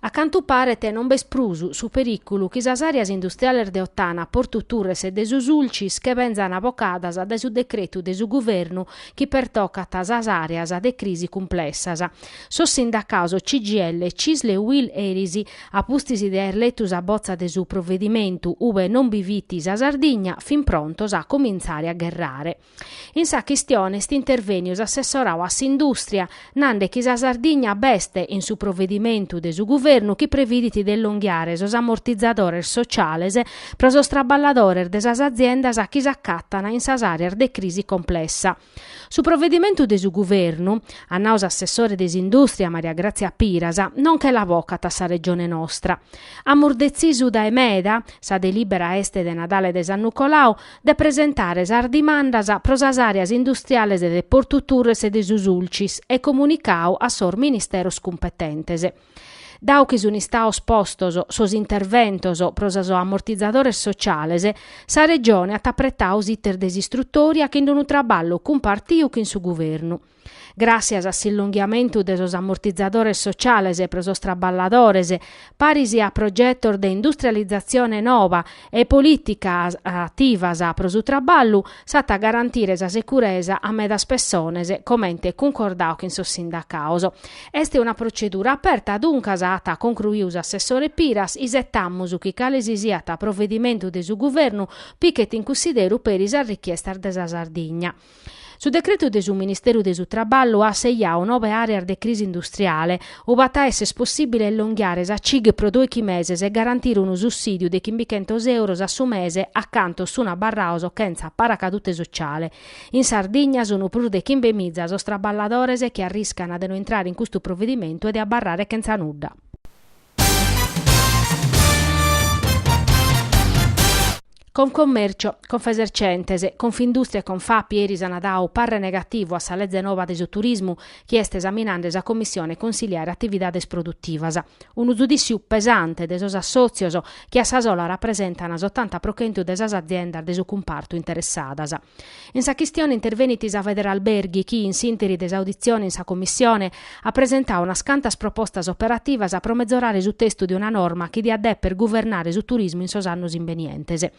A cantu paret non b'est prus su perìculu chi sas àreas industriales de Ottana, Portu Turres e de su Sulcis che benzan bocadas dae su decretu de su Guvernu chi pertocat sas àreas de crisi cumplessas. Sos sindacaos CGIL, Cisl e Uil eris, a pustis de aer letu sa botza de su provedimentu ube non bi fit sa Sardigna, fin prontos a comintzare a gherrare. In sa chistione est intervèniu s'assessorau a s'indùstria, nande chi sa Sardigna b'est in su provedimentu de su guvernu chi previdit de illonghiare sos amortizadores sociales pro sos traballadores de sas aziendas chi s'acatan in sas àreas de crisi complessa. Su provedimentu de su guvernu, at nau s'assessore de s'indùstria Maria Grazia Piras, non che la bocat a sa Regione nostra. Amus detzisu dae meda, sa delìbera est de Nadale de s'annu colau, de presentare sas dimandas pro sas àreas industriales de Portu Turres e de su Sulcis e comunicau a sos Ministeros cumpetentes. Dau chi sunt istaos postos sos interventos pro sos amortizadores sociales, sa Regione at apretau s'iter de s'istrutòria chin d'unu traballu cumpartiu chin su Guvernu. Gràssias a s'illonghiamentu de sos amortizadores sociales pro sos traballadores, paris a progetos de industrializatzione nova e polìticas ativas pro su traballu, s'at a garantire sa securesa a medas pessones, comente cuncordau chin sos sindacaos. Est una protzedura aperta, duncas, at concruiu s'assessore Piras, isetamus chi cale si siat provedimentu de su Guvernu pichet in cunsideru peri sas richiestas de sa Sardigna. Su decretu de su Ministeru de su Traballu at seiau nobe àreas de crisi industriale, ub'at a èsser possìbile illonghiare sa cig pro dòichi meses e garantire unu sussìdiu de chimbichentos euros a su mese a cantos sunt abarraos chentza paracadute sotziale. In Sardigna sunt prus de chimbemiza sos traballadores chi arriscana de no intrare in custu provedimentu e de abarrare chentza nudda. Confcommercio, Confesercentes, Confindustria e Confapi eris ana dau parre negativu a sa Leze Nova de su Turismu chi est esaminande sa Commissione Consiliare Atividades Produtivas. Unu zudìssiu pesante de sos assòtzios chi a sa sola rapresentana s'otanta pro chentu de sas aziendas de su cumpartu interessadas. In sa chistione intervenit sa Federalberghi chi, in s'interi de s'auditzione in sa Commissione, at presentau unas cantas propostas operativas pro mezorare su testu de una norma chi diat dèpere guvernare su turismu in sos annos imbenientes.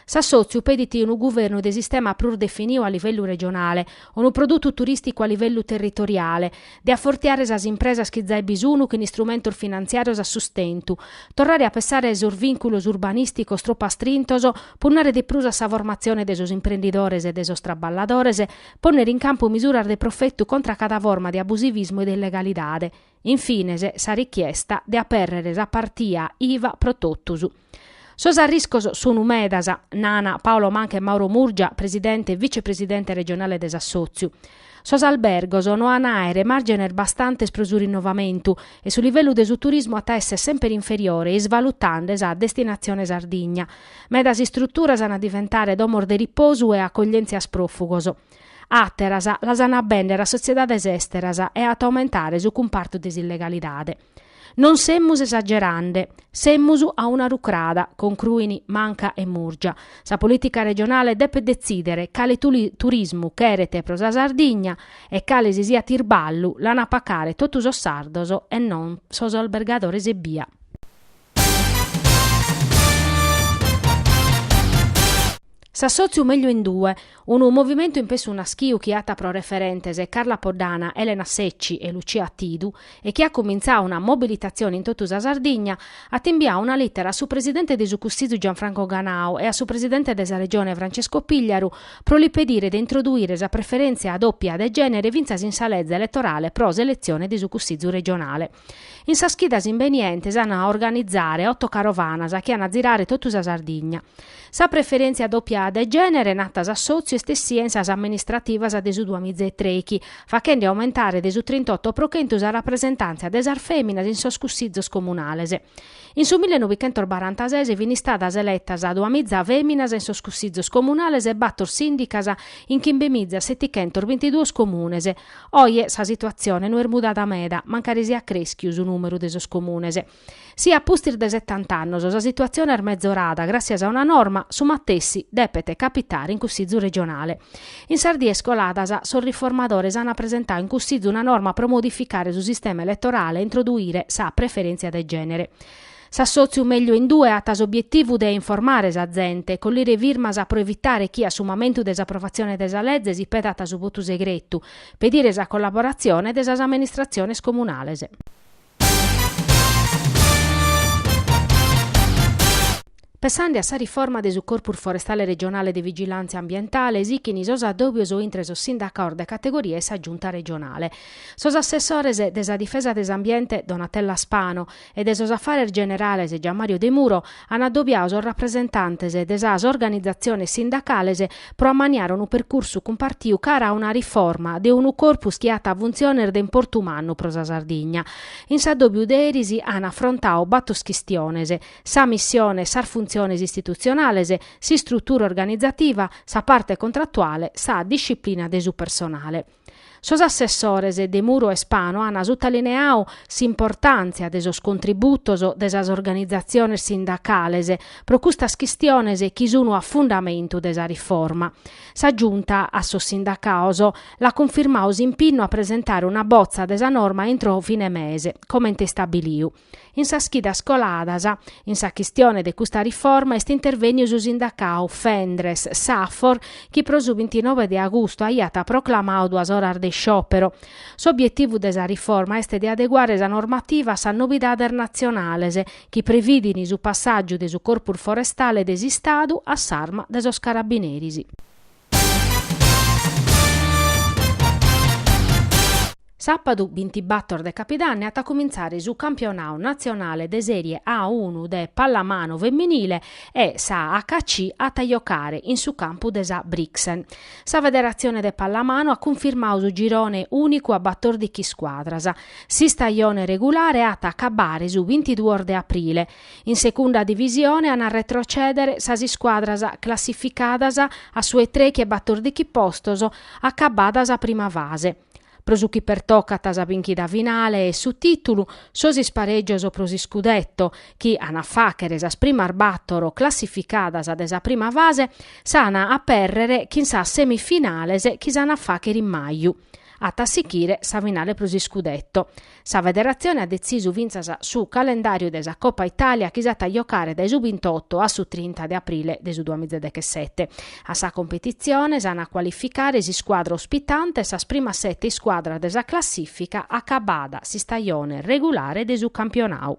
S'assòtziu petit unu guvernu de sistema prus definiu a livellu regionale, unu produtu turìsticu a livellu territoriale, de afortiare sas impresas chi zai bi sunu chin istrumentos finantziàrios a sustentu, torrare a pessare a sos vìnculos urbanìsticos tropu astrintos, punnare de prus a sa formatzione de sos imprendidores e de sos traballadores, pònnere in campu misuras de profetu contra a cada forma de abusivismu e de illegalidade. In fines, sa richiesta de apèrrere sa partia IVA pro totus. Sos arriscos sunu medas, nana Paolo Manca e Mauro Murgia, presidente e vicepresidente regionale de s'assòtziu. Sos albergos no an a àere màrgenes bastantes pro su rinnovamentu e su livellu de su turismu at a èssere semper inferiore isvalutande sa destinatzione Sardigna. Medas istruturas an a diventare domos de riposu e acoglièntzia a sos pròfugos. Àteras las an a bèndere a sotziedades èsteras e at a aumentare su cumpartu de s'illegalidade. Non semus esagerande, semus a una rucrada, concruin Manca e Murgia. Sa polìtica regionale depet detzìdere cale turismu cheret pro sa Sardigna e cale si siat irballu l'ant a pacare totu sos sardos e non sos albergadores ebbia. S'assòtziu meglio in due, unu movimentu in pessu naschiu chi at pro referentes Carla Poddana, Elena Secci e Lucia Attidu e chi at cumintzau una mobilitatzione in totu sa Sardigna, at imbiau una lìtera a su presidente de su Cussizu Gianfranco Ganau e a su presidente de sa Regione Francesco Pigliaru pro li pedire de introduire sa preferèntzia dòpia de gènere fintzas in sa leze eletorale pro s'eletzione de su Cussizu regionale. In sas chidas imbenientes an a organizare otto carovanas chi an a zirare totu sa Sardigna. Sa preferèntzia dòpia de gènere narat s'assòtziu est essida in sas amministrativas de su duamiza e trechi, fachende aumentare de su trintotto pro chentu sa rapresentàntzia de sas fèminas in sos cussizos comunales. In su millenovichentosbarantases fin istadas eletas duamiza fèminas in sos cussizos comunales e bator sìndicas in chimbemiza setichentos bintiduos comunes, Oje sa situatzione no est mudada meda, mancari siat crèschiu su nùmeru de sos comunes. Si a pustis de setant'annos sa situatzione est mezorada gràssias a una norma, su matessi depet capitare in Cussizu regionale. In sas dies coladas sos riformadores an presentau in Cussizu una norma pro modificare su sistema eletorale e introduire sa preferèntzia de gènere. S'assòtziu meglio in due at s'obietivu de informare sa zente, collire firmas pro evitare chi a su mamentu de s'aprovatzione de sa leze si petat su votu segretu, pedire sa collaboratzione de sas amministratziones comunales. Pensande a sa riforma de su Corpus Forestale Regionale de Vigilàntzia Ambientale, sichin sos addòbios intre sos sindacaos de categoria e sa Giunta regionale. Sos assessores de sa Difesa de s'Ambiente, Donatella Spano, e de sos Afares Generales Gianmario Demuro an addobiadu sos rapresentantes de sas organizatziones sindacales pro ammaniare unu percursu cumpartiu cara a una riforma de unu corpus chi at funtziones de importu mannu pro sa Sardigna. In s'addòbiu de eris an afrontadu bator chistiones, sa missione e sas funtziones istitutzionales, s'istrutura organizativa, sa parte contrattuale, sa disciplina de su personale. Sos assessores Demuro e Spano an sutalineadu s'importàntzia de sos contributos de sas organizatziones sindacales pro custas chistiones chi sun a fundamentu de sa riforma. Sa Giunta a sos sindacados l'at cunfirmadu s'impinnu a presentare una botza de sa norma intro fine mese, comente istabilidu. In sas chidas coladas in sa chistione de custa riforma est intervènniu su sindacau Fendres Safor chi pro su bintinove de agustu aiat proclamau duas oras de isciòpero. S'obietivu de sa riforma est de adeguare sa normativa a sas novidades natzionales chi prevìdin su passàgiu de su Corpus Forestale de s'Istadu a s'arma de sos Carabineris. Sàpadu bintibàtor de Capidanni at a cumintzare su campionau natzionale de Sèrie A unu de pallamanu feminile e sa HAC at a jocare in su campu de sa Brixen. Sa Federatzione de Pallamanu at cunfirmadu su girone ùnicu a batòrdighi scuadras. S'istajone regulare at a acabare su bintiduos de aprile, In Segunda Divisione an a retrocèdere sas iscuadras classificadas a su 'e trèichi e batòrdichi postos acabada sa prima fase. Pro su chi pertocat sa bìnchida finale e su tìtulu, sos isparègios pro s'iscudetto, chi an a fàghere sas primas bàtoro classificadas de sa prima fase, s'an a apèrrere chin sas semifinales chi s'an a fàghere in maju. At a sighire sa finale pro s'iscudetto. Sa federatzione at detzisu fintzas su calendàriu de sa Copa Itàlia chi s'at a jocare dae su bintoto a su trinta de aprile de su duamiza e dechesete. A sa competitzione s'an a cualificare s'iscuadra ospitante e sas primas sete iscuadras de sa classìfica acabada s'istajone regulare de su campionau.